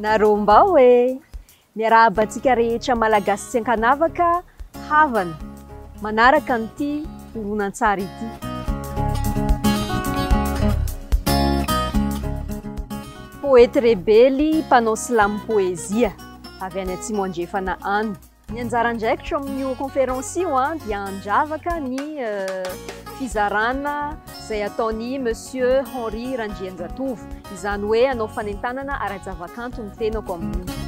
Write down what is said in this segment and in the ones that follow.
Narômbao e! Miarahaba antsika rehetra Malagasy tsy an-kanavaka havana manaraka an'ity horonantsary ity. Poety rebely mpanao slam poezia avy any Atsimo Andrefana any. Ny anjara andraikitro amin'io conférence io dia handravaka ny fizarana izay ataon'i Monsieur Henri Randrianjatovo, izany hoe hanao fanentanana ara-javakanto ny tenako amin'io.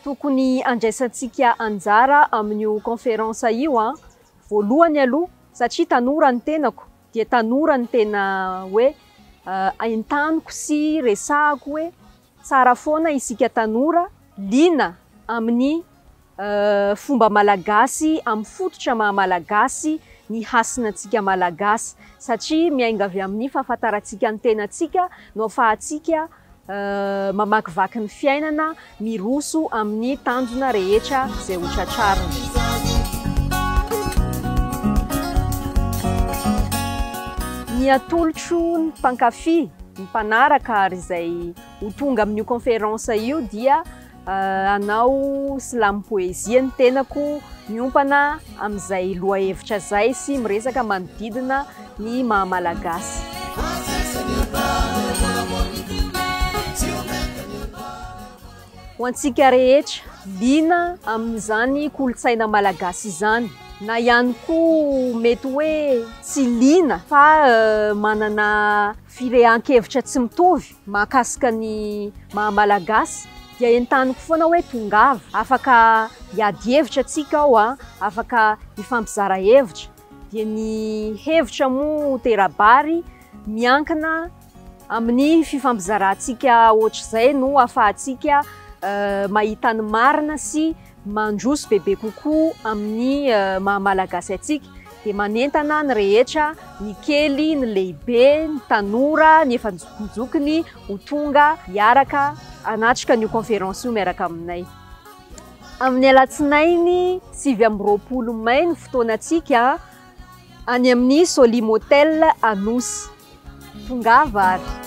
tokony andraisantsika anjara amin'io conférence io voalohany aloha satria tanora ny tenako dia tanora ny tena hoe entaniko sy resahako hoe tsara foana isika tanora liana amin'ny fomba malagasy amin'ny fototra maha malagasy ny hasinantsika malagasy satria miainga avy amin'ny fahafantarantsika ny tenantsika no afahantsika Mamakivaky ny fiainana, miroso amin'ny tanjona rehetra izay ho tratrarina. Ny atolotro ny mpankafy, ny mpanaraka ary izay ho tonga amin'io conférence io dia. Hanao slam poezia ny tenako, miompana amin'izay lohahevitra izay sy miresaka manodidina ny maha Malagasy. Ho antsika rehetra, liana amin'izany kolontsaina malagasy izany, na ihany koa mety hoe tsy liana fa manana firehan-kevitra tsy mitovy, Mahakasika ny maha Malagasy dia entaniko foana hoe tongava, afaka hiady hevitra tsika ao a, afaka hifampizara hevitra, dia ny hevitra moa tera-bary miankina amin'ny fifampizarantsika ohatr'izay no afahantsika mahita ny marina sy mandroso bebe kokoa amin'ny maha Malagasy antsika dia manentana ny rehetra, ny kely, ny lehibe, ny tanora, ny efa nijokinjokiny ho tonga hiaraka hanatrika an'io conférence io miaraka aminay. Amin'ny alatsinainy sivy amby roapolo mai ny fotoanantsika any amin'ny Solim Hotel Anosy. Tongava ary.